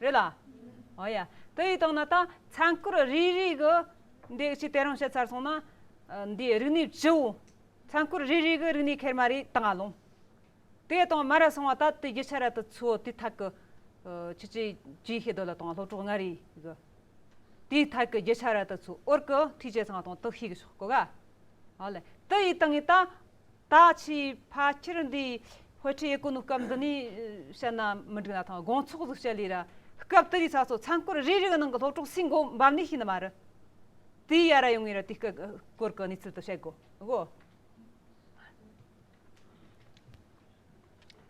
རེད་ལ། ཨོ་ཡ། དེ་ཡིས་སྟོང་ན་ད་ཚན་སྐོར་རེ་རེ་གི་འདི་ཅིག་དེ་རང་བཤད་ཚར་སོང་ན། འདིའི་རིག་གནས་བྱེའུ། ཚན་སྐོར་རེ་རེ་གི་རིག་གནས་ཁེར་མ་རེ་ད་ང་ལོང། དེ་ད་མ་ར་སོང་བ་ད་དེ་རྒྱུ་ཆ་ར་དུ་ཚུའོ་དེ་ཐག་གི། ཁྱེད་ཀྱིས་ཇུས་ཤེས་འདོད་ལ་དང་སློབ་གྲོགས་ང་རེ་གི། དེའི་ཐག་གི་རྒྱུ་ཆ་ར་དུ་ཚུའོ་ཨོར་གི་ཐུས་བྱས་ཚང་དང་དུ་ཤེས་གི་ཤོག་གོ་ག། ཨོ་ལེ། དེ་ཡིས་ད་ངས་ད། ད་ཆའི་ཕ་ཁྱེར་འདིའི་དཔེ་ཁྲིད་ཡས་གོ་ནུ་སྐབས་འདི་ནས་བཤད་ན་མི་འགྲིག་ན་ཐང་དགོངས་ཚོགས་སུ་བཤད་ལེ་ར། སྐབས་དེ་རིའི་ཚ་སོ་ཚང་སྐོར་རེ་རིག་ནང་གི་སློབ་གྲོགས་སིང་གོ་འབབ་ནས་ཤི་ནི་མ་རི། དེའི་ཡ་ར་ཡོང་ངེས་ར་དེ་སྐད་སྐོར་གི་གནས་ཚུལ་དུ་བཤད་དགོ་གོ།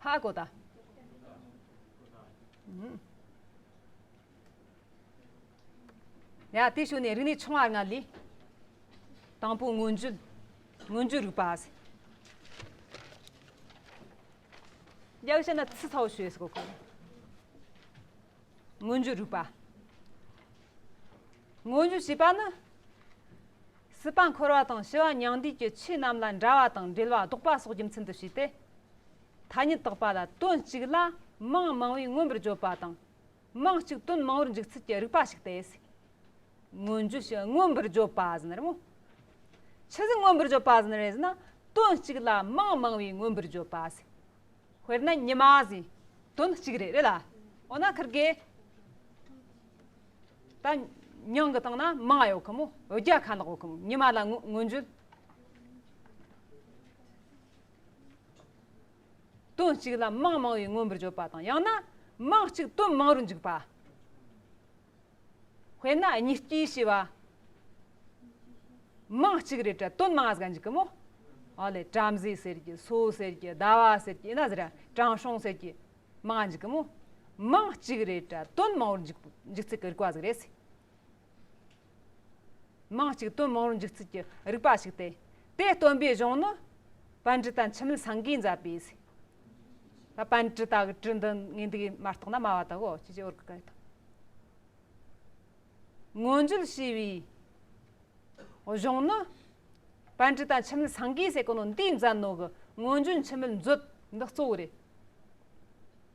ཧ་གོ་ད། ཡང་དེ་ཕྱོགས་ནས་རིག་གནས་ཆུང་བ་ལྔ་ལས། དང་པོ་མངོན་བརྗོད། མངོན་བརྗོད་རིག་པ། ཡག་ཤེས་ན་ཚིག་ཚོགས་ཞེས་སོགས་གོ། མངོན་བརྗོད་རིག་པ། མངོན་བརྗོད་ཞེས་པ་ནི། སྲིད་པ་འཁོར་བ་དང་ཞི་བ་མྱང་འདས་ཀྱི་ཆོས་རྣམས་ལ་འདྲ་བ་དང་འབྲེལ་བ་ལྡོག་པ་སོགས་རྒྱུ་མཚན་དུ་བྱས་ཏེ། ཐ་སྙད་དག་པ་ལ་དོན་གཅིག་ལ་མིང་མང་བས་མངོན་པར་བརྗོད་པ་དང། དམངས་གཅིག་དོན་མང་བོར་འཇུག་ཚུལ་གྱི་རིག་པ་ཞིག་སྟེ། མངོན་རྗོད་ཞེས་མངོན་པར་བརྗོད་པ་ཟིན་རེད་མོད། ཇི་སྲིད་མངོན་པར་བརྗོད་པ་ཟིན་རེད་ཟེར་ན་དོན་གཅིག་ལ་དམངས་མང་བས་མངོན་པར་བརྗོད་པ་ཟིན། དཔེར་ན་ཉི་མ་ཟིན་དོན་གཅིག་རེད་རེད་ལ། འོ་ན་ཁིར་གེ། ད་ཉང་གི་སྟེང་ན་དམངས་ཡོད་གི་མོ་བརྒྱ་ཁ་ནག་ཡོད་གི་མོ་ཉི་མ་ལ་མངོན་བརྗོད། དོན་གཅིག་ལ་དམངས་མང་བའི་མངོན་པར་བརྗོད་པ་དང་ཡང་ན་དམངས་གཅིག་དོན་མང་རུ་འཇུག་པ། དཔེར་ན་གཉིས་སྐྱེས་ཞེས་པ། དམངས་གཅིག་རེད་དྲ་དོན་མང་ཟག་འཇུག་གི་མོ། ཨོ་ལེ་བྲམ་ཟེ་ཟེར་གྱི་སོ་ཟེར་གྱི་ཟླ་བ་ཟེར་གྱི་ཨིན་ཟེར་གྱི་དྲང་སྲོང་ཟེར་གྱི་མང་འཇུག་གི་མོ། དམངས་གཅིག་རེད་དྲ་དོན་མང་བོར་འཇུག་འཇུག་ཚེ་གི་རིག་པ་ཟིག་རེད། མིང་གཅིག་དོན་མང་རུ་འཇུག་ཚུལ་གྱི་རིགས་པ་ཞིག་སྟེ། དེ་སྟོན་པའི་གཞུང་ནི། བན་དྲི་དང་འཆི་མེད་སངས་རྒྱས་མཛད་པའི་ཚེ། བན་དྲི་དང་གྲི་འདི་ངེས་འདུག་མ་རྟོགས་ན་སྨྲ་བ་དག་གོ། མངོན་བརྗོད་ཞེས་པའི་གཞུང་ནི། བན་དྲི་དང་འཆི་མེད་སངས་རྒྱས་སྲས་ཀུན་འདུས་མཛད་ནོ་གི་མངོན་བརྗོད་འཆི་མེད་མཛོད་འདི་གཙོ་བོ་རེད།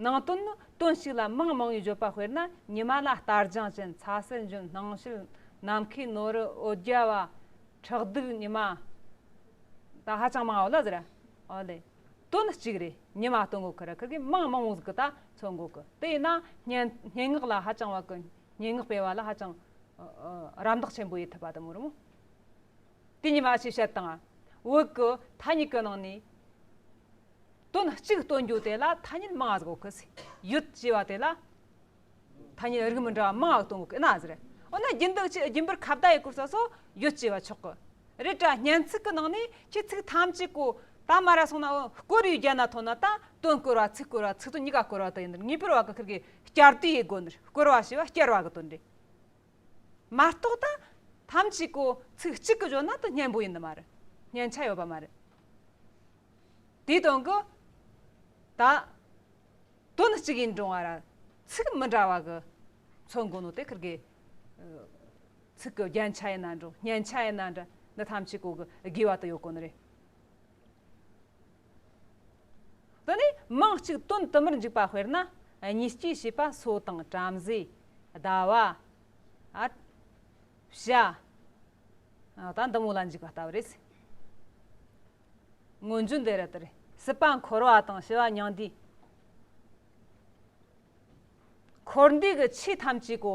ནང་དོན་ནི་དོན་གཅིག་ལ་མིང་མང་བའི་བརྗོད་པ་དཔེར་ན་ཉི་མ་ལ་སྟར་རྒྱངས་ཅན་ཚ་སེར་འཇོན་སྣང་བྱེད་ནམ་མཁའི་ནོར་རི་ཨོ་རྒྱ་བ་ཁྲག་རྡུལ་ཉི་མ་ད་ཧ་ཅང་མང་བ་ལ་ཟེར་ཨ་ལས། དོན་གཅིག་རེད་ཉི་མ་སྟོན་དགོས་ཁར་ཁག་གིས་མིང་མང་བོ་ཟིག་གི་ད་འཚོལ་དགོས་གི་དེས་ན་སྙན་སྙན་ངག་ལ་ཧ་ཅང་བ་གི་སྙན་ངག་སྤེལ་བ་ལ་ཧ་ཅང་རམ་འདེགས་ཆེན་པོ་ཡོད་ཐུབ་པ་དང་མོད་རུང། དེ་ཉི་མ་ཞེས་བཤད་སྟངས་བོད་ཀྱི་ཐ་སྙད་ཀྱི་ནང་ནས། དོན་གཅིག་སྟོན་རྒྱུ་དེ་ལ་ཐ་སྙད་མང་གཟུགས་ཀྱི་ཚིག་ཡོད་ཅེས་པ་དེ་ལ། ཐ་སྙད་རིགས་མི་འདྲ་བ་མང་སྟོན་དགོས་ཀྱི་ཟེར། འོ་ན་རྒྱུན་འདོགས་ཀྱིས་རྒྱུན་པར་ཁ་བརྡ་ཡི་སྐོར་ས་སོགས་ཡོད་ཅེས་པ་ཆོག་གི་རེད། དྲ་བརྙན་ཚིག་གི་ནང་ནས་ཁྱེད་ཚིག་ཐམས་ཅད་གོ་ད་མ་ར་སོང་ན་བསྐོར་ཡུལ་རྒྱ་ནག་ཐོག་ན་དང་དོན་བསྐོར་བ་ཚིག་བསྐོར་བ་ཚིག་དོན་གཉིས་ཀ་བསྐོར་བ་དེ་ཡིན་ངེས་པར་བ་གི་ཁིར་གྱི་བསྐྱར་ཟློས་ཡི་སྒོ་ནས་བསྐོར་བ་ཞེས་པ་བསྐྱར་བ་གི་དོན་རེད། མ་རྟོགས་དང། ཐམས་ཅད་ཀོ། ཚིག་གཅིག་གི་བརྗོད་ན་དུ་སྙན་པོ་ཡིན་ནི་མ་རེད། སྙན་ཆ་ཡོད་པ་མ་རེད། དེའི་དོན་གོ། ད། དོན་ནི་གཅིག་ཡིན་འབྲིང་བ་ར། ཚིག་མི་འདྲ་བ་གི། ཚོད་མགོ་ནོ་དེ་ཁུར་དགོས། ཚིག་གི་རྒྱན་ཆ་ཡིན་ན་འབྲིང་སྙན་ཆ་ཡིན་ན་འདྲ། འདི་ཐམས་ཅད་ཀོ་གི་དགོས་པ་དུ་ཡོད་ཀོ་ནི་རེད། དེ་ནས་མིང་གཅིག་དོན་དུ་མར་འཇུག་པ་དཔེར་ན་གཉིས་སྐྱེས་ཞེས་པ་སོ་དང་བྲམ་ཟེ། ཟླ་བ། བྱ། དང་འདི་མོ་ལ་འཇུག་པ་ལྟ་བུ་རེད། སྔོན་བྱོན་འདི་རུ་དེར་སྲིད་པ་འཁོར་བ་དང་ཞི་བ་མྱང་འདས། འཁོར་འདས་ཀྱི་ཆོས་ཐམས་ཅད་ཀོ།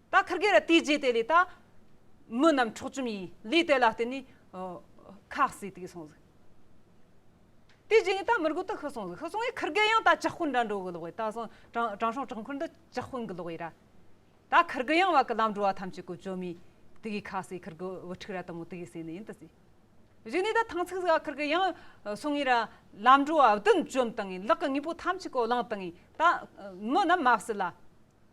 ད་ཁར་གེ་ར་དེའི་རྗེས་དེ་ལས་ད། མི་རྣམས་འཕྲོག་བཅོམ་ཡིས་ལུས་དེ་ལ་བརྟེན་ནས། ཁ་བསྲེས་དེ་སོང་ཟིག། དེའི་རྗེས་ངས་ད་མི་རྒོད་དེ་ཤི་སོང་ཟིག་ཤི་སོང་ངས་ཁར་གེ་ཡང་ད་ཅག་ཤོད་འདྲ་འགྲོ་གི་ལོག་ཡིད་ད་སོང་དྲང་སྲོང་དྲག་འཁོར་འདི་ཅག་ཤོད་གི་ལོག་ཡིད་ར། ད་ཁར་གེ་ཡང་བ་གི་ལམ་འགྲོ་བ་ཐམས་ཅད་ཀུ་ཅོ་མོས་དེ་གའི་ཁ་བསྲེས་ཁར་གེ་བུ་ཕྲུག་ར་དང་མོ་དེ་གའི་བསྲེས་ནས་ཡིན་དུ་ཟིག། གཞི་ནས་ད་ཐང་ཚིག་ཟིག་ཨ་ཁར་གེ་ཡང་སོང་ངེས་ར། ལམ་འགྲོ་བ་བདུན་བཅོམ་དང་ངེས་ལག་གི་དངོས་པོ་ཐམས་ཅད་ཀོ་ལངས་དང་ངེས་ད། མི་རྣམས་མ་བསད་ལ།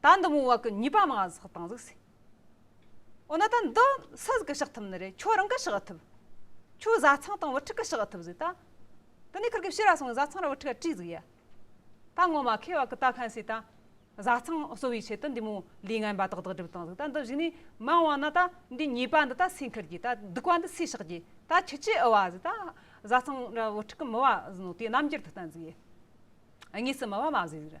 ད་འདི་མོ་བ་གི་ཉིས་པ་མ་གཟག་དང་གཟིགས་སེ། འོ་ན་ད་འདི་སུ་ཟིག་གི་ཤག་ཐུབ་ནི་རེད་ཁྱོད་རང་གི་ཤག་ཨ་ཐུབ། ཁྱོད་བཟའ་ཚང་དང་བུ་ཕྲུག་གི་ཤག་ཨ་ཐུབ་ཟིག་ད། འདི་ནས་ཁར་གི་བྱི་ར་སོང་བས་བཟའ་ཚང་ར་བུ་ཕྲུག་ག་བྲིས་ཟིག་ཡ། ད་ངོ་མ་ཁེ་བ་གི་ད་ཁན་སི་ད། བཟའ་ཚང་གསོ་བའི་ཆེད་དུ་འདི་མོ་ལུས་ངན་པ་དག་དག་སྒྲིབ་དང་ཟིག་ད་འདི་བཞི་ནས་མ་འོང་ན་ད་འདི་ཉིས་པ་འདི་ད་སུས་འཁུར་གྱི་ད་སྡུག་པ་འདི་སུས་ཤག་གྱི་ད་ཁྱི་ཁྱི་ཨུ་བ་ཟིག་ད། བཟའ་ཚང་ར་བུ་ཕྲུག་གི་མི་བ་ཟིག་ནོ་དེ་རྣམ་འགྱུར་དུ་བསྟན་ཟིག་ཡ། དངོས་སུ་མི་བ་མ་བཟོས་ཟིག་ར།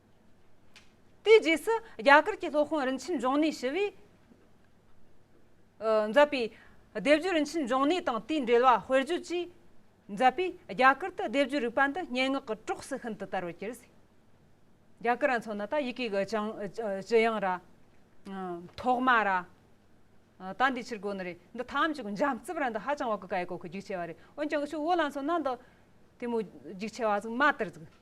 དེའི་རྗེས་སུ་རྒྱ་གར་གྱི་སློབ་དཔོན་རིན་ཆེན་འབྱུང་གནས་ཞི་བས་མཛད་པའི་ལྡེབ་བརྒྱུད་རིན་ཆེན་འབྱུང་གནས་དང་དེའི་འགྲེལ་བ་དཔེར་བརྗོད་ཀྱིས་མཛད་པས་རྒྱ་གར་དུ་ལྡེབ་བརྒྱུད་རིག་པ་འདི་སྙན་ངག་གི་གྲོགས་སུ་ཤིན་ཏུ་དར་བར་གྱུར། རྒྱ་གར་མཚོ་ན་ད་ཡི་གེ་གི་སྤྱི་དབྱངས་ར། ཐོག་མ་ར། ད་འདིའི་ཕྱིར་རྒོལ་ནི་རེད། འདི་ཐམས་ཅད་ཀྱི་འཇམ་རྩུབ་ར་འདི་ཧ་ཅང་བ་ཀི་ཀ་ཡི་གོ་ཁའི་རྒྱུགས་ཆེ་བ་རེད། འོན་ཀྱང་ཆུ་བོ་ལ་མཚོན་ན་འདི་དེ་མོ་རྒྱུགས་ཆེ་བ་ཟིག་མ་དར་ཟིག།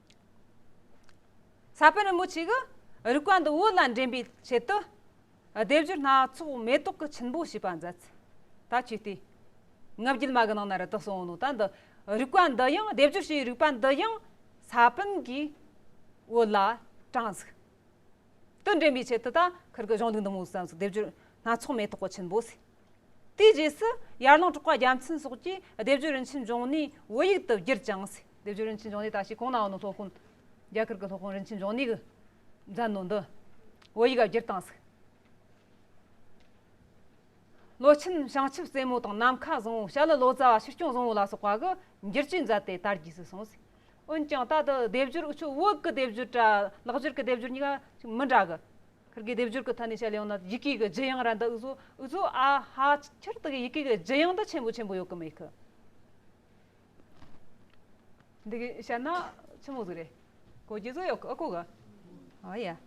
ས་པཎ་རིན་པོ་ཆེས་གི་རིག་པ་འདི་བོད་ལ་འདྲེན་པའི་ཆེད་དུ་སྡེབ་སྦྱོར་སྣ་ཚོགས་མེ་ཏོག་གི་ཆུན་པོ་ཞེས་པ་མཛད། ད་ཆོས་དུས་ལྔ་བརྒྱུད་མ་གི་ནང་ན་རི་དྭགས་སོང་ནོ་ད་འདི་རིག་པ་འདི་ཡང་སྡེབ་སྦྱོར་བྱས་རིག་པ་འདི་ཡང་ས་པཎ་གིས་བོད་ལ་དྲངས་ཟིག་དུ་འདྲེན་པའི་ཆེད་དུ་ད་ཁིར་གི་གཞུང་ལུགས་འདི་མོ་བསམ་ཟིག་སྡེབ་སྦྱོར་སྣ་ཚོགས་མེ་ཏོག་གི་ཆུན་པོ་ཟིག། དེའི་རྗེས་སུ་ཡར་ལངས་གྲོགས་པ་རྒྱ་མཚན་སོགས་ཀྱིས་སྡེབ་སྦྱོར་རིན་ཆེན་འབྱུང་གནས་བོད་ཡིག་ཏུ་བསྒྱུར་ཅིང། སྡེབ་སྦྱོར་རིན་ཆེན་འབྱུང་གནས་ད་ཕྱིས་གོང་ན་འོང་ནོ་སློབ་དཔོན། རྒྱ་གར་གྱི་སློབ་དཔོན་རིན་ཆེན་འབྱུང་གནས་ཀྱིས་མཛད་ནོ་འདི། བོད་ཡིག་ལ་བསྒྱུར་དང་གཟིགས། ལོ་ཆེན་བྱང་ཆུབ་རྩེ་མོ་དང་ནམ་མཁའ་བཟང་བོ་ཞྭ་ལི་ལོ་ཙཱ་བ་ཕྱིར་སྐྱོང་བཟང་བོ་ལ་སོགས་པ་གི་བསྒྱུར་བཅོས་མཛད་དེ་དར་རྒྱས་སུ་སོང། འོན་ཀྱང་ད་དུ་སྡེབ་སྦྱོར་འུ་ཆོས་དབུ་བགེགས་ཀྱི་སྡེབ་སྦྱོར་གྲ་ལག་སྦྱོར་གྱི་སྡེབ་སྦྱོར་གཉིས་ཀ་མི་འདྲ་གི། ཁིར་གྱི་སྡེབ་སྦྱོར་གྱི་ཐ་སྙད་བྱ་ཡང་ན་ཡི་གེ་གི་བརྗོད་དབྱངས་ར་མདའ་འུ་ཚོ་འུ་ཚོ་ཨ་ཧ་ཁིར་དག་གི་ཡི་གེ་གི་བརྗོད་དབྱངས་འདི་ཆེན་པོ་ཆེན་པོ་ཡོད་ཀི་མེད་ཀི། འདི་གི་བྱ་ན་ཆི་མོ་ཟིག་རེད། གོ་གི་ཟིག་ཡོད་ཀི་ཨ་ཁུ་གི། ཨོ་ཡ།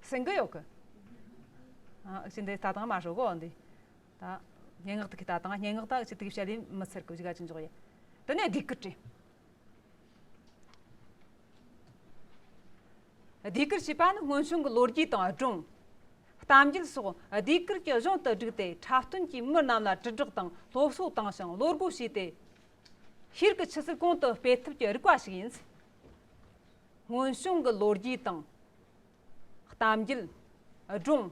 སེང་གི་ཡོད་ཀི། ཨ་ཨི་ཆི་འདི་ད་དང་མ་ཧྲོ་གོ་འདི། ད། སྙན་ངག་དག་གི་ད་དང་སྙན་ངག་དག་ཆི་དག་གི་བྱ་ལས་མི་ཚེར་ཀི་བྱ་ག་ཅི་འཇོག་ཡ། དེ་ནས་སྡིག་ཀི་དྲི། སྡེ་ཁུལ་བྱས་པ་ནི་སྔོན་བྱུང་གི་ལོ་རྒྱུས་དང་སྒྲུང་གཏམ་རྒྱུད་སོགས་སྡེ་ཁུལ་གྱི་གཞུང་དུ་བསྒྲིགས་ཏེ་འཁྲབ་སྟོན་གྱིས་མི་རྣམས་ལ་དྲིལ་བསྒྲགས་དང་སློབ་གསོ་བཏང་ཞིང་བློ་སྒོ་ཕྱེས་ཏེ། ཤེལ་གྱི་ཆུ་ཚུར་གོང་དུ་སྤེལ་ཐུབ་ཀྱི་རིག་པ་ཞིག་ཡིན། སྔོན་བྱུང་གི་ལོ་རྒྱུས་དང་གཏམ་རྒྱུད་སྒྲུང།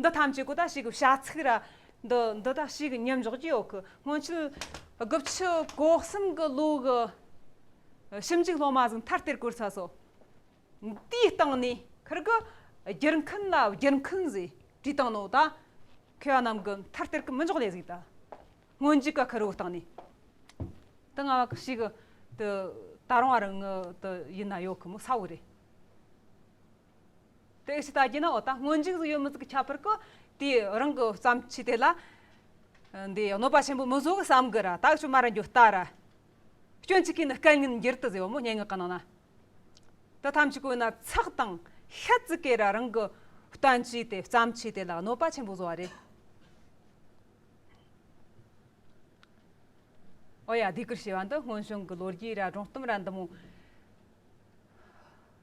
འདི་ཐམས་ཅད་གོ་ད་ཞིག་བྱ་ཚིག་ར་འདི་འདི་ད་ཞིག་མཉམ་འཇོག་ཀྱི་ཡོད་གི་སྔོན་ཆད་དགུ་ཕྱི་གོག་གསུམ་གི་ལོ་གི་ཞིབ་འཇུག་སློབ་མ་ཟིན་མཐར་དེར་བཀོལ་ཚར་སོ། དེའི་སྟེང་ནས་ཁིར་གི་སྒྱུར་མཁན་ལ་སྒྱུར་མཁན་ཟེར་དྲིས་སྟེང་ནོ་ད་ཁེ་བ་རྣམས་གི་མཐར་དེར་གི་མི་འཇོག་ལས་ཟིག་ད་སྔོན་འཇུག་གི་ཁིར་བོའི་སྟེང་ནས་དེ་སྔ་བ་གི་ཞིག་དེ་ད་རུང་བ་རང་ཡིན་ན་ཡོད་གི་མོ་ས་བོ་རེད། དེ་ཕྱི་ལྟ་རྒྱུ་ནི་འོ་ད་སྔོན་འཇུག་ཟིག་ཡོད་མི་ཟིག་གི་ཁྱད་པར་གྱི། དེའི་རང་གི་བསམ་ཚུལ་དེ་ལ། འདི་གནོད་པ་ཆེན་པོ་མི་བཟོ་གི་བསམ་གི་ར་ད་བྱུང་མ་ར་འགྱོ་ལྟ་ར། སྐྱོན་གཅིག་གིས་ནི་སྐལ་ངན་འགྱུར་དུ་ཟེར་བ་མོ་སྙན་ངག་གི་ནང་ན། དེ་ཐམས་ཅད་གོས་ན་ཚགས་དང་ཤ་ཚིག་གི་ར་རང་གི་བསྟན་བཅོས་དེ་བསམ་ཚུལ་དེ་ལ་གནོད་པ་ཆེན་པོ་བཟོ་བ་རེད། འོ་ཡ་སྡིག་གུར་ཞེས་པ་འདི་སྔོན་བྱུང་གི་ལོ་རྒྱུས་ར་སྒྲུང་གཏུམ་ར་འདི་མོ།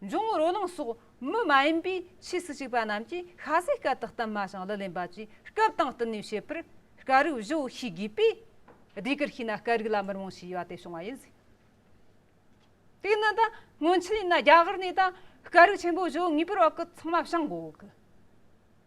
འབྱུང་བོ་རོ་ལངས་སོགས་མི་མ་ཡིན་པའི་ཆོས་སུ་གཅིག་པ་རྣམས་ཀྱིས་ཤ་ཟའི་སྐད་དུ་གཏུམ་མ་ཞིང་ལུས་ལེན་པ་བཅས་སྐབས་དང་བསྟུན་ནས་བྱེད་པར་དཀའ་རིགས་བཞི་བོ་ཤེས་དགོས་པས། སྡེ་དགུར་ཤེས་ན་དཀའ་རིགས་ལ་མི་རུང་ཞེས་བྱ་བ་དེ་བྱུང་བ་ཡིན། དེས་ན་ད་སྔོན་ཆད་ཡིན་ན་རྒྱ་གར་ནས་ད་དཀའ་རིགས་ཆེན་པོ་བཞི་བོ་ངེས་པར་བག་གི་ཚང་མ་བྱང་དགོས།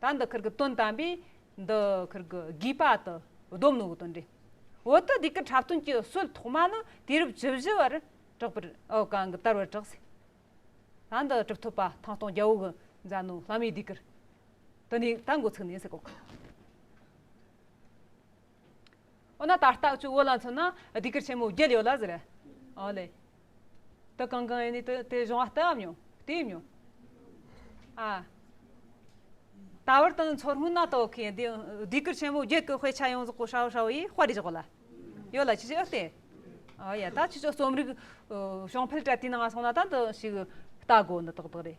ད་འདི་ཁིར་གི་དོན་དམ་པས་འདི་ཁིར་གི་དགོས་པ་དུ་སྡོམ་ནོ་དོན་འདི་འོ་དི་དེ་གི་འཁྲབ་སྟོན་གྱི་སྲོལ་ཐོག་མ་ནི་དུས་རབས་བཅུ་བཞི་བར་གྲགས་པར་གང་གི་དར་བར་གྲགས་སྲིད། ད་འདི་གྲུབ་ཐོབ་པ་ཐང་སྟོང་རྒྱལ་བོ་གི་མཛའ་ནོ་ལྷ་མོའི་དུས་ཁིར་དུ་ནི་ད་འགོ་ཚུགས་ནས་སྲིད་གོ། འོ་ན་ད་ལྟ་ཁྱོད་བོད་ལ་མཚོན་ན་སྡིག་སྐུལ་ཆེན་མོ་བརྒྱད་ཡོད་ལ་ཟེར། ཨོ་ལེ། དེ་གང་གང་ཡིན་ནས་དེ་གཞུང་བ་ལྟ་བ་མྱོང་ལྟོས་ཡིན་མྱོང། ཨ། ད་བར་དང་མཚོ་སྔོན་ན་དོ་ཁའི་སྡིག་སྐུལ་ཆེན་མོ་བརྒྱད་ཀྱི་དཔེ་ཆ་ཡོངས་རྫོགས་གོ་ཧྲའོ་ཧྲའོ་ཡིས་དཔར་རེ་བཞག་ལ་ཡོད་ལ་ཅི་བྱེད་ཨོ་ལྟོས། ཨོ་ཡ་ད་ཁྱོད་ཚོ་རྩོམ་རིག་གཞུང་ཕལ་བཀྲ་དུས་ནང་སོང་ན་ད་འདི་ཞིག་ལྟ་དགོས་འདི་དག་དག་རེད།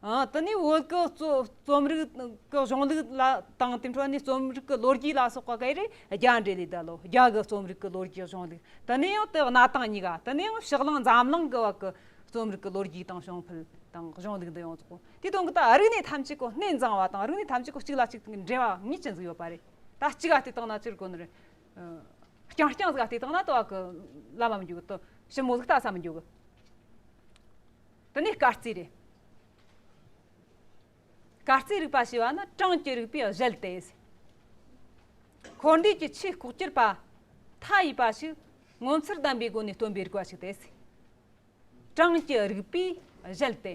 འདི་ནི་བོད་ཀྱི་རྩོམ་རིག་གི་གཞུང་ལུགས་ལ་དང་དེ་འཕྲོས་ནས་རྩོམ་རིག་གི་ལོ་རྒྱུས་ལ་སོགས་པ་འགའ་རེ་རྒྱ་འགྲེལ་ལས་བདལ་ལོ་རྒྱ་གི་རྩོམ་རིག་གི་ལོ་རྒྱུས་གཞུང་ལུགས་དེ་ནི་ཡང་དེ་གནའ་དང་ཉི་དགའ་དེ་ནི་ཡང་ཕྱག་གླང་འཛམ་གླིང་གི་བར་གྱི་རྩོམ་རིག་གི་ལོ་རྒྱུས་དང་གཞུང་ཕུལ་དང་གཞུང་ལུགས་འདི་ཡོངས་རྫོགས་གོ་དེའི་དོན་གྱི་ད་རིག་གནས་ཐམས་ཅད་ཀྱི་གནས་འཛིན་བ་དང་རིག་གནས་ཐམས་ཅད་ཀྱི་གཅིག་ལ་གཅིག་འབྲེལ་བ་ཉིད་ཅན་ཟིག་ཡོད་པ་རེད་ད་གཅིག་ག་དེ་དག་ན་སྤྱིར་གོ་ནོར་རྐྱང་རྐྱང་ཟིག་ག་དེ་དག་ན་དོ་བ་གི་བླ་མ་མི་འགྱུར་གི་དོ་ཞིབ་མོ་ཟིག་ལྟ་ས་མི་འགྱུར་གི། འདི་ནི་སྐར་རྩིས་རེད། སྐར་རྩིས་རིག་པ་ཞེས་པ་ནི་གྲངས་ཀྱི་རིག་པའི་གཞལ་ཏེ། འཁོར་འདས་ཀྱི་ཆོས་ལྐོག་གྱུར་པ་མཐའ་ཡས་པ་ཞིག་ངོ་མཚར་ལྡན་པའི་སྒོ་ནས་སྟོན་པའི་རིག་པ་ཞིག་སྟེ། གྲངས་ཀྱི་རིག་པའི་གཞལ་ཏེ།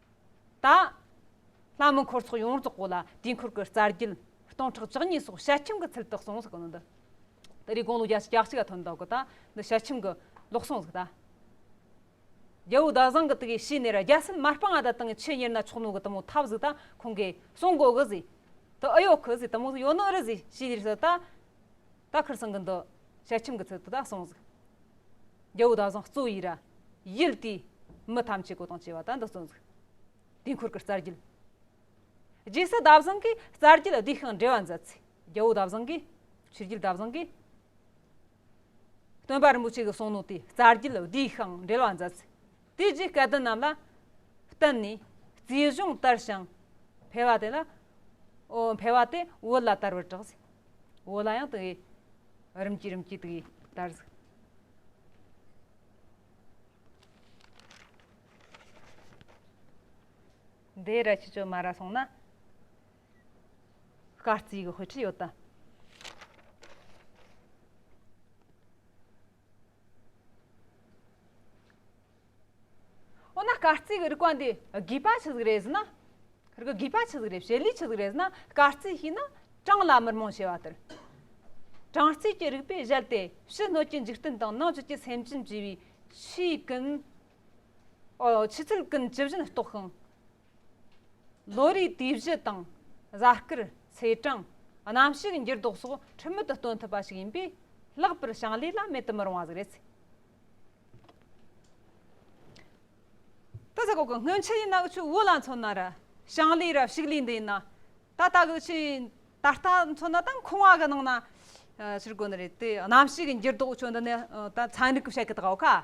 དང། ལྷ་མོའི་འཁོར་ཚོགས་ཡོངས་རྫོགས་གོ་ལ་དུས་འཁོར་གྱི་རྩ་རྒྱུད། སྟོང་ཕྲག་བཅུ་གཉིས་སོགས་ཞལ་ཆེམས་ཀྱི་ཚུལ་དུ་གསུངས་གཟིགས་གནང། འདི་རིགས་དགུང་ལོ་བརྒྱ་ཆ་གྱ་གཅིག་ལ་ཐོན་འདུག་གོ་ད་ནི་ཞལ་ཆེམས་ཀྱི་ལོག་གསུངས་གཟིགས་ད། རྒྱལ་བུ་ཟླ་བཟང་གི་དུས་ཕྱིས་ནས་རྒྱལ་སྲིད་མ་སྤངས་ད་དང་ཆེད་གཉེར་ན་ཆོག་ནོ་གི་དུ་མོ་ཐབས་གཟིགས་ད་ཁོང་གིས་གསུངས་གོ་གི་གཟིགས། དུ་ཨི་ཡོག་གི་གཟིགས་དུ་མོ་ཡོ་ནོ་རི་གཟིགས་ཞེས་ལས་སུ་ད། ད་ཁར་སང་གི་འདི་ཞལ་ཆེམས་ཀྱི་ཚུལ་དུ་ད་གསུངས་གཟིགས། རྒྱལ་པོ་བདག་བཟང་གཙོ་བོའི་ཡི་ར། ཡུལ་དེའི། མི་ཐམས་ཅད་གོ་དང་བཅས་པ་དག་འདི་གཙོ་འཛུགས། དུས་འཁོར་གྱི་རྩ་རྒྱུད། རྗེས་སུ་བདག་བཟང་གིས་རྩ་རྒྱུད་བསྡུས་ཤིང་འགྲེལ་བ་མཛད། ཚེ་རྒྱལ་པོ་བདག་བཟང་གིས། ཆོས་རྒྱུད་བདག་བཟང་གི། སྟོན་པ་རིན་པོ་ཆེ་གི་གསུང་ནོར་དེའི་རྩ་རྒྱུད་བསྡུས་ཤིང་འགྲེལ་བ་མཛད། དེ་རྗེས་སྐལ་ལྡན་རྣམས་ལ་བསྟན་ནས། རྩིས་གཞུང་ལྟར་ཞིང་འཕེལ་བ་དེ་ལ། འཕེལ་བ་དེ་བོད་ལ་དར་བར་གྲགས། བོད་ལ་ཡང་དེ་བས་རིམ་གྱིས་རིམ་གྱིས་དེ་བས་དར། འདི་ར་ཆུ་ཆོས་མ་ར་སོང་ན། སྐར་རྩིས་ཀྱི་དཔེ་ཁྲིད་ཡོད་དམ། འོ་ན་སྐར་རྩིས་རིག་པ་འདི་དགོས་པ་ཆི་ཟིག་རེད་ཟེར་ན། དགོས་པ་ཆི་ཟིག་རེད་བྱེད་ལས་ཆི་ཟིག་རེད་ཟེར་ན་སྐར་རྩིས་ཤེས་ན་གྲངས་ལ་མི་རྨོངས་ཞེས་པ་ལྟར། གྲངས་རྩིས་ཀྱི་རིག་པའི་གཞལ་དེ་ཕྱི་སྣོད་ཀྱི་འཇིག་རྟེན་དང་ནང་བཅུད་ཀྱི་སེམས་ཅན་བཅས་པའི་ཆུའི་ཀུན། ཆུ་ཚད་ཀུན་ཇི་བཞིན་རྟོགས་ཤིང། ལོ་རེའི་དུས་བཞི་དང། གཟའ་སྐར། ཚེས་གྲངས། གནམ་གཤིས་འགྱུར་ལྡོག་སོགས་ཁྲིམས་མེད་དུ་སྟོན་ཐུབ་པ་ཞིག་ཡིན་པས། ལྷག་པར་ཞིང་ལས་ལ་མེད་དུ་མི་རུང་བ་ཟིག་རེད། ད་ཟ་ཁོག་གི་སྔོན་ཆད་ཡིན་ན་འུ་ཆོས་བོད་ལ་མཚོན་ན་ར་ཞིང་ལས་ར་ཕྱུགས་ལས་འདི་ཡིན། ད་ལྟ་གི་ཆོས་ད་ལྟ་མཚོན་ན་དང་ཁུང་བ་གི་ནང་ན་ཕྱིར་གོ་ནི་རེད་དེ། གནམ་གཤིས་འགྱུར་ལྡོག་ཆོས་འདི་ནི་ད་ཚན་རིག་གི་བཤད་ཀི་དགའ་བོ་ཁ།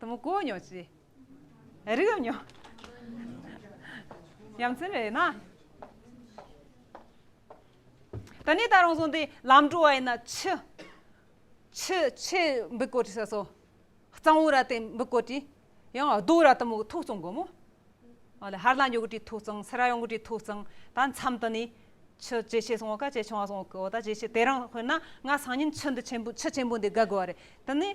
དུ་མ་གོ་མྱོང་ཅི། རིག་ཡོད་མྱོང། ཡ་མཚན་རེད་ན། ད་ནི་ད་རུང་སོང་སྟེ་ལམ་འགྲོ་བ་ཡིན་ན་ཆུ། ཆུ་ཆེ་འབུ་བརྐོ་བྲི་ས་སོ། གཙང་བོ་ར་དེ་འབུ་བརྐོ་བྲི། ཡང་རྡོ་ར་དུ་མ་ཐུག་གཙང་དགོས་མོ། ཨོ་ལེ་ཧར་ལ་འགྱོག་གི་བྲི་ཐུག་གཙང་སེ་ར་ཡོང་གི་བྲི་ཐུག་གཙང་ད་མཚམས་དུ་ནི། ཆུ་ཇེ་ཆེ་སོང་བ་ཀ་ཇེ་ཆུང་བ་སོང་བ་ཀོ་ད་ཇེ་ཆེ་དེ་རིང་དཔེར་ན་ང་སང་ཉིན་ཆུ་འདི་ཆེན་པོ་ཆུ་ཆེན་པོ་འདི་དགའ་དགོས་བ་རེད་དེ་ནི།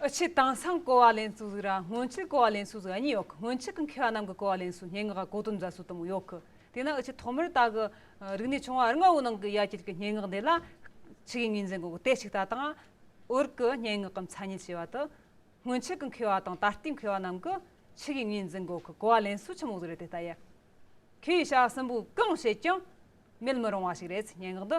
ཨི་ཆི་དང་སང་ཀོ་བ་ལན་སུ་ཟིག་ར་སྔོན་ཆིག་ཀོ་བ་ལན་སུ་ཟིག་གཉིས་ཡོད་གི་སྔོན་ཆིག་གི་མཁས་བ་རྣམས་ཀྱི་ཀོ་བ་ལན་སུ་སྙན་ངག་ག་གོ་དོན་རྫ་སུ་དུམ་བུ་ཡོད་གི་དེས་ན་ཨི་ཆི་ཐོག་མར་ད་གི་རིག་གནས་ཆུང་བ་རི་ང་བོའི་ནང་གི་ཡ་གྱལ་གྱི་སྙན་ངག་འདི་ལ་ཆིག་ཡིག་གཉིས་འཛིན་གོ་གི་དེ་ཆིག་ད་དང་ཨོར་གི་སྙན་ངག་གི་མཚན་ཉིད་ཅེས་བ་དི་སྔོན་ཆིག་གི་མཁས་བ་དང་ད་ལྟའི་མཁས་བ་རྣམས་ཀྱི་ཆིག་ཡིག་གཉིས་འཛིན་གོ་གི་ཀོ་བ་ལན་སུ་ཆུམ་བུ་ཟིག་རེད་དེ་ལྟ་ཡ་ཁེ་ཡི་ཤ་སུན་པོ་གང་བྱེད་ཀྱང་མེད་མི་རུང་བ་ཞིག་རེད་སྙན་ངག་འདི།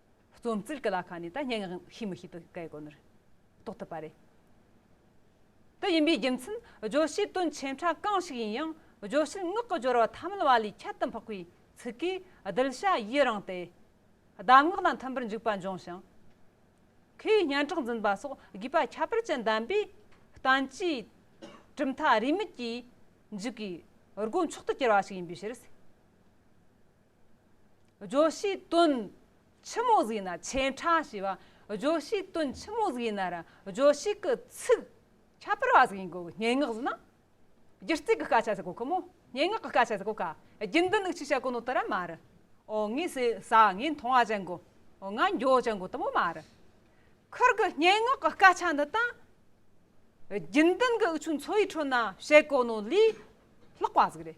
རྩོམ་རྩིས་ཀྱི་ལ་ཁ་ནས་ད་སྙན་ངག་ཤེས་མི་ཤེས་དེ་གའི་གོ་ནོར་རྟོགས་ཐུབ་པ་རེད། དེ་ཡིན་པའི་རྒྱུ་མཚན་བརྗོད་བྱའི་དོན་ཆེན་ཕྲ་གང་ཞིག་ཡིན་ཡང་བརྗོད་བྱའི་ངག་གི་སྦྱོར་བ་ཐ་མལ་བ་ལས་ཁྱད་དུ་འཕགས་པའི་ཚིག་གིས་གདུལ་བྱ་ཡི་རང་སྟེ། གདམས་ངག་དང་མཐུན་པར་འཇུག་པ་འབྱུང་ཞིང། ཁོས་སྙན་གྲགས་འཛིན་པ་སོགས་དགོས་པ་ཁྱད་པར་ཅན་ལྡན་པས། བསྟན་བཅོས་གྲུབ་མཐའ་རིས་མེད་ཀྱི་མཇུག་གི་སྒོ་མཆོག་ཏུ་གྱུར་བ་ཞིག་ཡིན་པའི་ཕྱིར། ཇོ་ཤི་ཏུན། ཆི་མོ་ཟིག་ན་ཆེན་ཁྲ་ཞེས་པ་ཇོ་ཤི་ཏུན་ཆི་མོ་ཟིག་ན་ར་ཇོ་ཤི་ཀི་ཚིག་ཁྱད་པར་བ་ཟིག་ཡིན་གོ་སྙན་ངག་ཟིག་ན་སྒྱུ་རྩིས་ཀི་སྐད་ཆ་ཟིག་གོ་ཁི་མོ་སྙན་ངག་གི་སྐད་ཆ་ཟིག་གོ་ཁ་རྒྱུན་ལྡན་ནི་ཆི་ཤ་ཀོ་ནོ་ཏི་ར་མ་རི་ཨོ་ངི་སི་ས་ངི་མཐོང་བ་ཅན་གོ་ང་འགྱོ་ཅན་གོ་ཏི་མོ་མ་རི་ཁིར་གི་སྙན་ངག་གི་སྐད་ཆ་འདི་དང་རྒྱུན་ལྡན་གི་འུ་ཆུ་འཚོ་བའི་ཁྲོད་ན་བཤད་གོ་ནོ་ལི་ལྷག་པ་ཟིག་རེད་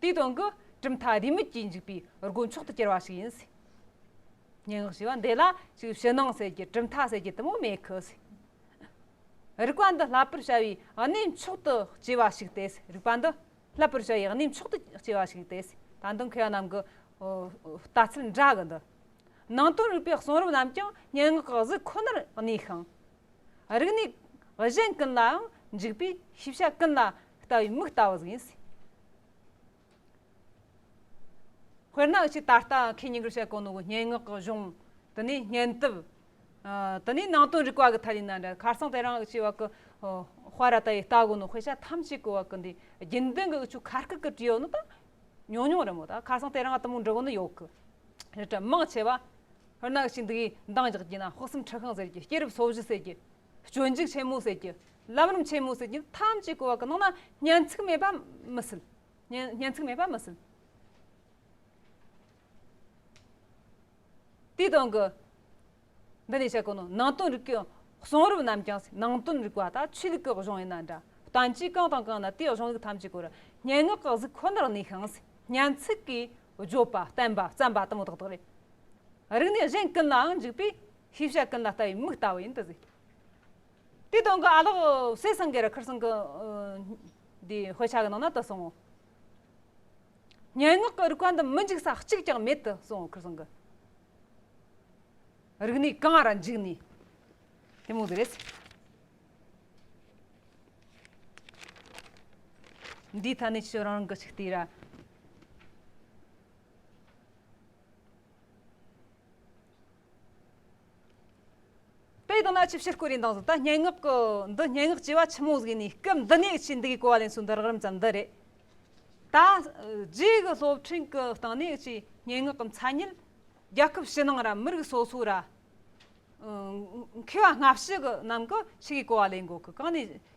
དེའི་དོན་གྱི་གྲུབ་མཐའ་རེའི་མིག་གྱིས་འཇིག་པའི་སྒོ་མཆོག་ཏུ་གྱུར་བ་ཞིག་ཡིན། སྙན་ངག་ཞེས་པ་འདི་ལ་ཅིག་ཕྱི་ནང་གསལ་གྱི་གྲུབ་མཐའ་ཟེར་གྱི་དུ་མ་མེད་ཁུལ། རིག་པ་འདི་བསླབ་པར་བྱ་བའི་གནས་མཆོག་ཏུ་སྐྱེས་པ་ཞིག་སྟེ་རིག་པ་འདི་བསླབ་པར་བྱ་བའི་གནས་མཆོག་ཏུ་སྐྱེས་པ་ཞིག་སྟེ་ད་དུང་མཁས་པ་རྣམས་ཀྱི་ལྟ་ཚུལ་འདྲ་གི་འདུག་ནང་དོན་རིག་པའི་གསུང་རབ་རྣམས་ཀྱང་སྙན་ངག་གི་གཟུགས་ཁོ་ནར་གནས་ཤིང། རིགས་ནི། གཞན་ཀུན་ལའང་འཇུག་པས་ཤེས་བྱ་ཀུན་ལ་ལྟ་བའི་མིག་ལྟ་བུ་ཡིན། དཔེར་ན་ཅིག་ད་ལྟ་ཁས་ཉིན་རེ་བྱ་གོ་ནོར་བུ་སྙན་ངག་གི་གཞུང་དེ་ནི་སྙན་དེབ་དེ་ནི་ནང་དོན་རིག་པ་གི་ཐད་ཡིན་ན་འདྲ་ཁར་སང་དེ་རང་ཅེས་བ་ཀི་དཔའ་ར་ད་ཡི་ལྟ་གོ་ནོར་དཔེ་ཆ་ཐམས་ཅད་ཀི་བ་ཀི་འདི་དགེ་འདུན་གི་དབུ་ཆུ་ཁ་སྐད་ཀི་བྲིས་ཡོད་ནོ་ད་ཉུང་ཉུང་རེད་མོད་ད་ཁར་སང་དེ་རང་ད་མུག་འབྲི་གོ་ནོར་ཡོད་ཀི་རེད་དྲ་དམངས་ཆེ་བ་རྣག་ཅིག་འདི་ཡིས་འདང་རྒྱག་གྱིས་ན་དཔག་བསམ་ཁྲི་ཤང་ཟེར་གྱི་སྐྱེས་རབས་སོ་བཞི་ཟེར་གྱི། སྤྱོད་འཇུག་ཆེན་མོ་ཟེར་གྱི། ལམ་རིམ་ཆེན་མོ་ཟེར་གྱི་ཐམས་ཅད་གོ་བ་གི་ནང་ན་སྙན་ཚིག་མེད་པ་མི་སྲིད། སྙན་ཚིག་མེད་པ་མི་སྲིད། དེའི་སྟེང་གི། འདི་ནས་བཤད་ཀྱི་ནོ་ནང་དོན་རིག་གི་གསུང་རབ་རྣམས་ཀྱང་སྲིད་ནང་དོན་རིག་པ་དང་ཆོས་ལུགས་ཀྱི་གཞུང་ཡིན་ན་འདྲ་བསྟན་བཅོས་གང་དང་གང་ན་དེའི་གཞུང་ལུགས་ཐམས་ཅད་གོ་རུ་སྙན་ངག་གི་གཟུགས་ཁོ་ནར་གནས་ཤིང་སྙན་ཚིག་གིས་བརྗོད་པ་བསྟན་པ་བརྩམས་པ་དང་དག་དག་རེད། རིག་ནས་གཞན་ཀུན་ལའང་འཇུག་པས་ཤེས་བྱ་ཀུན་ལ་ལྟ་བའི་མིག་ལྟ་བུ་ཡིན་དུ་གཟིགས། དེའི་དོན་གྱི་ཨ་ལགས་སེ་སངས་རྒྱས་ར་ཁར་སེང་གི་དེའི་དཔེ་ཆ་གི་ནང་ན་དུ་སོང་ངོ། སྙན་ངག་གི་རིག་པ་འདི་མི་འཇིག་ས་གཅིག་ཀྱང་མེད་དུ་སོང་ངོ་ཁར་སེང་གི་རིག་ནས་གང་ར་འཇུག་ནས་དེ་མོ་དེ་རེད། འདིའི་ཐད་ནས་ཁྱོད་རང་རང་གི་ཆིག་བལྟས་ར། དེ་ཡི་དོན་ལ་ཅི་བྱེད་བསྐུལ་རིན་དང་གཟུགས་དང་སྙན་ངག་གི། འདི་སྙན་ངག་ཅེས་པ་ཆི་མོ་གཟུགས་ནས་སྐབས་འདི་ནས་ཅི་འདི་གའི་གོ་བ་ལེན་ཚུལ་འདི་རགས་རིམ་ཙམ་འདི་རེད། ད་རྗེས་ཀྱི་སློབ་ཕྲིན་གྱི་སྟེང་ནས་ཅི་སྙན་ངག་གི་མཚན་ཉིད། རྒྱལ་ཁབ་ཕྱི་ནང་ར་མི་རིགས་སོ་སོའི་ར། མཁས་པ་སྔ་ཕྱི་གི་རྣམས་ཀྱི་ཕྱི་གའི་གོ་བ་ལེན་དགོས་ཀྱི་གང་ནས་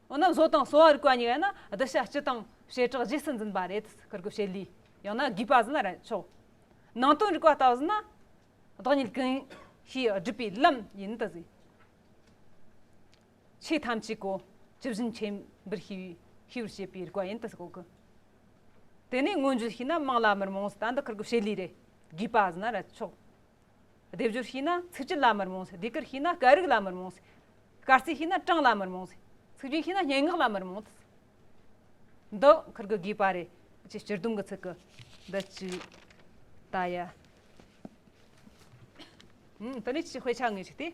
འོ་ན་བཟོ་དང་གསོ་བ་རིག་པ་གཉིས་ཡོད་ན་བསྡུ་བྱ་སྤྱི་དང་བྱེ་བྲག་རྗེས་སུ་འཛིན་པ་རེད་བསྐུར་དགོས་བྱེད་ལུས་ཡང་ན་དགོས་པ་ཟིན་ན་རེད་ཆོག་ནང་དོན་རིག་པ་ལྟ་བུ་ཟིན་ན་བདག་ཉིད་གང་ཞིག་སྒྲུབ་པའི་ལམ་ཡིན་དུ་ཟིན། ཆོས་ཐམས་ཅད་གོ་ཇི་བཞིན་ཆེན་པོར་ཤེས་པའི་ཤེས་པར་བྱེད་པའི་རིག་པ་ཡིན་དུ་གོ་གི། དེ་ནས་མངོན་བརྗོད་བྱས་ན་དམངས་ལ་མི་རྨོངས་སུ་ལྟ་འདི་བསྐུར་དགོས་བྱེད་ལུས་རེད་དགོས་པ་ཟིན་ན་རེད་ཆོག་སྡེབ་སྦྱོར་ཤེས་ན་ཚིག་སྤྱི་ལ་མི་རྨོངས་སྡེ་དཀར་ཤེས་ན་སྐད་རིགས་ལ་མི་རྨོངས། སྐར་རྩིས་ཤེས་ན་གྲངས་ལ་མི་རྨོངས། ཚིག་རྒྱུན་ཤེས་ན་སྙན་ངག་ལ་མི་རྨོངས། འདི་འཁུར་གི་དགོས་པ་རེད། ཅེས་སྤྱིར་བསྡོམས་ཀྱི་ཚིག་གི་འདི་གཅིག་ད་ཡ། དེ་ནས་ཅི་དཔེ་ཆ་ངེས་ཅིག་སྟེ།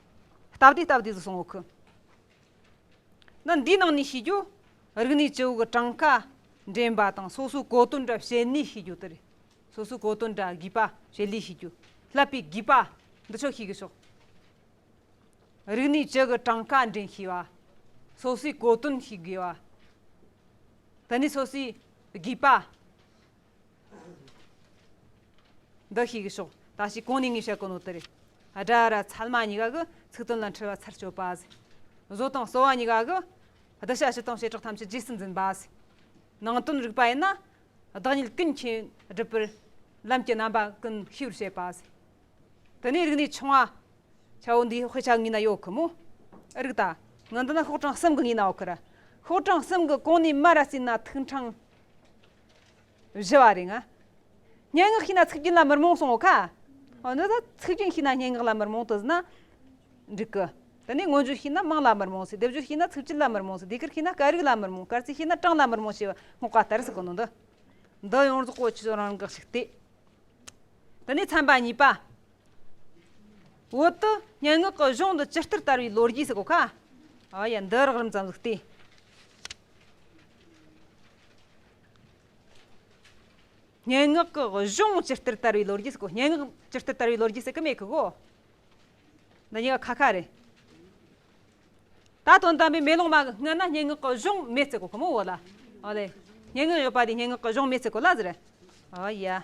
སྟབས་བདེ་སྟབས་བདེ་དུ་སོང་བ་ཁུ། ནི་འདིའི་ནང་ནས་ཤེས་རྒྱུ། རིག་གནས་ཇོ་བོ་གི་གྲངས་ཀ་འདྲེན་པ་དང་སོ་སོའི་གོ་དོན་འདྲ་བྱེད་ནུས་ཤེས་རྒྱུ་དེ་རེད། སོ་སོའི་གོ་དོན་འདྲ་བགྱིས་པ་བྱེད་ལུས་ཤེས་རྒྱུ། བསླབ་པའི་བགྱིས་པ་འདི་ཆོག་ཤེས་ཀྱི་ཆོག། རིག་གནས་ཇོ་བོའི་གྲངས་ཀ་འདྲེན་ཤེས་པ། སོ་སོའི་གོ་དོན་ཤེས་དགོས་པ། དེ་ནས་སོ་སོའི་བགྱིས་པ། འདི་ཤེས་ཀྱི་ཤོག་ད་ཞིག་གོང་ནས་ངས་བཤད་ཀྱི་ནོར་དེ་རེད། སྒྲ་ར་ཚལ་མ་གཉིས་ཀ་གི་ཚིག་དོན་ལ་འཁྲུལ་བ་ཚར་གཅོད་པ། བཟོ་དང་གསོ་བ་གཉིས་ཀ་གི་བསྡུ་བྱ་སྤྱི་དང་བྱེ་བྲག་ཐམས་ཅད་རྗེས་སུ་འཛིན་པ། ནང་དོན་རིག་པ་ཡིན་ན་བདག་ཉིད་ཀུན་མཁྱེན་སྒྲུབ་པར་ལམ་གྱི་རྣམ་པ་ཀུན་ཤེས་པར་བྱེད་པ། དེ་ནས་རིག་གནས་ཆུང་བ། ཁྱེད་བོད་འདིའི་དཔེ་ཆ་ངའི་ན་ཡོད་གི་མོད། ཨེ་རིག་ད། ངའི་འདི་ན་ཤོག་གྲངས་གསུམ་གྱི་ངའི་ན་ཡོད་གི་རེད། ཤོག་གྲངས་གསུམ་གྱི་གོང་ནས་མར་ར་བརྩིས་ན་ཐུགས་འཕྲང། བཞི་བ་རེ་ང། སྙན་ངག་ཤེས་ན་ཚིག་རྒྱུན་ལ་མི་རྨོངས་གསུང་ངོ་ཁ། འོ་ན་ད་ཚིག་རྒྱུན་ཤེས་ན་སྙན་ངག་ལ་མི་རྨོངས་དུ་ཟིན་ན་འགྲིག་གི། དེ་ནས་མངོན་བརྗོད་ཤེས་ན་དམངས་ལ་མི་རྨོངས་སྲིད་སྡེབ་སྦྱོར་ཤེས་ན་ཚིག་སྤྱི་ལ་མི་རྨོངས་སྲིད་སྡེ་ཁུལ་ཤེས་ན་སྐད་རིགས་ལ་མི་རྨོངས་སྐར་རྩིས་ཤེས་ན་གྲངས་ལ་མི་རྨོངས་ཞེས་པ་སྔོག་པ་ལྟར་ཟིག་གི་ནོར་འདི་འདི་ཡོངས་རྫོགས་བཀོལ་ཆོས་ཚོགས་རང་འགག་ཞིག་སྟེ། དེ་ནས་ཚན་པ་གཉིས་པ། བོད་དུ་སྙན་ངག་གི་གཞུང་འདི་ཇི་ལྟར་དར་བའི་ལོ་རྒྱུས་ཟིག་གོ་ཁ། ཨ་ཡ་འདི་རགས་རིམ་ཙམ་ཟིག་སྟེ། སྙན་ངག་གི་གཞུང་སྤྱིར་སྟེར་དར་བའི་ལོ་རྒྱུས་སུ་གོ། སྙན་ངག་སྤྱིར་སྟེར་དར་བའི་ལོ་རྒྱུས་སུ་ཀུ་མེད་ཀྱི་གོ། འདི་གཉིས་ཀ་ཁ་ཁ་རེད། ད་དོན་དམ་པའི་མེ་ལོང་མ་གི་སྔུན་ན་སྙན་ངག་གི་གཞུང་མེད་ཚེ་གོ་ཁོ་མོ་བོ་ལ། ཨོ་ལེ། སྙན་ངག་ཡོད་པ་དེ་སྙན་ངག་གི་གཞུང་མེད་ཚེ་གོ་ལ་ཟེར། ཨོ་ཡ།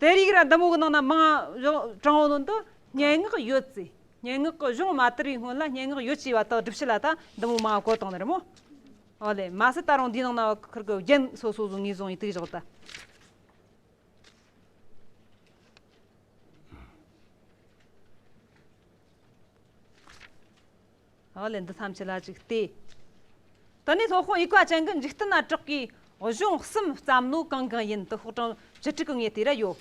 དེ་རིགས་ལ་འདམ་འོག་ནང་ན་མང་གྲང་བོ་ནང་དུ་སྙན་ངག་ཡོད་ཚེ་སྙན་ངག་གི་གཞུང་མ་དར་བའི་སྔོན་ལ་སྙན་ངག་ཡོད་ཅེས་པ་དག་སྒྲུབ་བྱེད་ལ་ད་འདམ་འོག་མང་བ་གོ་བཏང་ནི་རེད་མོད། ཨོ་ལེ། མ་ཟད་ད་རུང་འདིའི་ནང་ན་བ་ཁུར་གི་རྒྱན་སོ་སོ་བཟོ་ངེས་བཟོ་ཡི་དུས་བཞག་ད། ཨོ་ལེ་འདི་ཐམས་ཅད་ལ་གཅིག་སྟེ། དེ་ནས་ལྷོ་ཁོངས་ཡིག་བཀའ་ཅན་གྱི་འཇིག་རྟེན་ན་གྲགས་པའི་གཞུང་གསུམ་བརྩམས་ནོ་གང་གང་ཡིན་དེ་ཤོག་གྲངས་བཅུ་དྲུག་གི་ངོས་དེ་ར་ཡོད།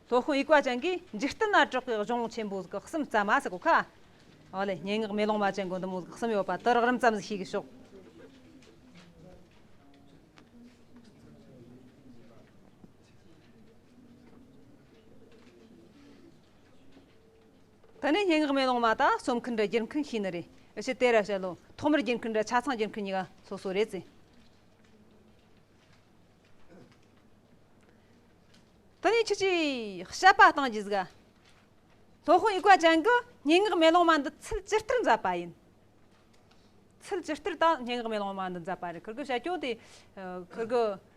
ལྷོ་ཁོངས་ཡིག་བཀའ་ཅན་གྱི་འཇིག་རྟེན་ན་གྲགས་པའི་གཞུང་ཆེན་པོ་གི་གསུམ་བརྩམས་མ་ཟེར་གོ་ཁ། ཨོ་ལེ་སྙན་ངག་མེ་ལོང་མ་ཅན་གྱི་འདི་མོ་གི་གསུམ་ཡོད་པ་དེ་རགས་རིམ་བརྩམས་ཟིན་ཤེས་གི་ཤོག། ད་ནི་སྙན་ངག་མེ་ལོང་མ་དག་རྩོམ་མཁན་འདྲ་སྒྱུར་མཁན་ཤེས་ནི་རེད། ཞེས་དེ་ར་བཤད་ལོ། ཐོག་མར་སྒྱུར་མཁན་འདྲ་ཆ་ཚང་སྒྱུར་མཁན་གཉིས་ཀ་སོ་སོ་རེད་ཟེར། ད་ནི་ཁྱེད་ཀྱིས་བཤད་པ་སྟངས་ཀྱིས་གཟིགས། ལྷོ་ཧོན་དབྱིག་པ་ཅན་གྱི་སྙན་ངག་མེ་ལོང་མ་འདི་ཚུལ་ཇི་ལྟར་མཛད་པ་ཡིན། ཚུལ་ཇི་ལྟར་དང་སྙན་ངག་མེ་ལོང་མ་འདི་མཛད་པ་རེད། ཁྱེད་ཀྱི་བཤད་སྐྱོན་དེ། ཁྱེད་ཀྱི།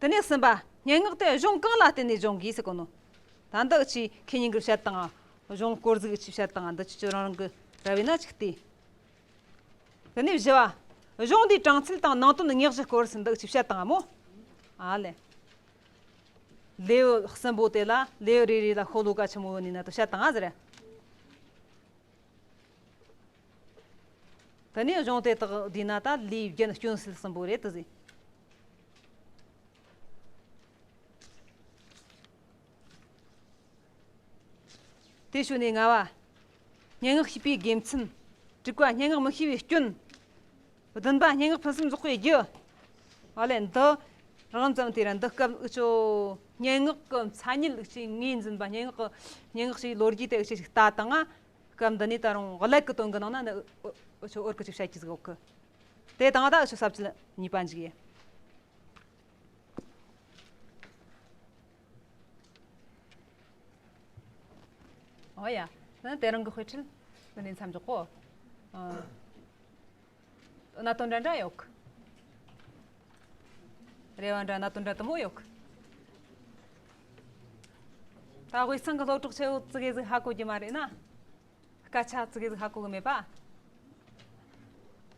དེ་ནས་གསུམ་པ། སྙན་ངག་དེ་གཞུང་གང་ལ་བརྟེན་ནས་སྦྱོང་དགོས་སུ་གོ་ནོ། ད་འདི་ཕྱིའི་མཁས་སྙིང་གི་ཕྱིར་དང། གཞུང་དཀོར་གཟུགས་ཀྱི་ཕྱིར་དང་འདི་ཕྱི་ཁྱོད་རང་རང་གི་ར་བའི་ན་ཅིག་སྟེ། དེ་ནས་བཞི་བ། གཞུང་འདིའི་དྲང་ཚུལ་དང་ནང་དོན་ཉག་གཅིག་སྐོར་སུ་འདི་ཕྱི་བཤད་དང་མོ། ཨ་ལས། ལེའུ་གསུམ་པོ་དེ་ལ་ལེའུ་རེ་རེ་ལ་ཤོ་ལོ་ཀ་ཆེན་མོ་ཡོད་ནི་ན་དུ་བཤད་དང་ཟེར། དེ་ནས་གཞུང་དེ་དག་བསྡུས་ན་ཏཱ་ལའི་ཡི་གེ་ནི་སྐྱོན་སེལ་གསུམ་པོ་རེད་དུ་ཟིན། དེ་ཞོར་ནས་ལྔ་བ། སྙན་ངག་ཤེས་པའི་དགེ་མཚན། དྲུག་པ། སྙན་ངག་མི་ཤེས་པའི་སྐྱོན། བདུན་པ། སྙན་ངག་ཕུན་སུམ་ཚོགས་པའི་རྒྱུ། ཨོ་ལེ། འདི་རང་ཙམ་དེ་ར་འདི་སྐབས་དབུ་ཆོས་སྙན་ངག་གི་མཚན་ཉིད་ལུགས་ཀྱིས་ངོས་འཛིན་པ་སྙན་ངག་གི་སྙན་ངག་ཅིག་ལོ་རྒྱུས་དེ་ཡི་ཆེད་ཞིག་ལྟ་དང། སྐབས་འདི་ནས་ད་རུང་བརླད་ཀྱི་དོན་གྱི་ནང་ན་འོད་ཀྱི་ཅིག་ཤར་གྱི་གཟུགས་འོག་གི་དེ་དང་ད་ཞིག་ཟབ་ཅིང་ནུས་པ་འཇུག་ཡེ། ཨོ་ཡ། དེ་རང་གི་དཔེ་ཁྲིད་འདི་ནས་མཚམས་འཇོག་གོ། ན་དོན་འདྲ་འདྲ་ཡོད། རེ་བ་འདྲ་ན་དོན་འདྲ་དུམ་བུ་ཡོད། ད་དབུས་གཙང་གི་སློབ་ཕྲུག་ཚོས་ཨོ་ཙི་གེ་ཟིག་ཧ་གོ་རྒྱུ་མ་རེད་ན། སྐད་ཆ་ཨོ་ཙི་གེ་ཟིག་ཧ་གོ་གི་མེད་པ།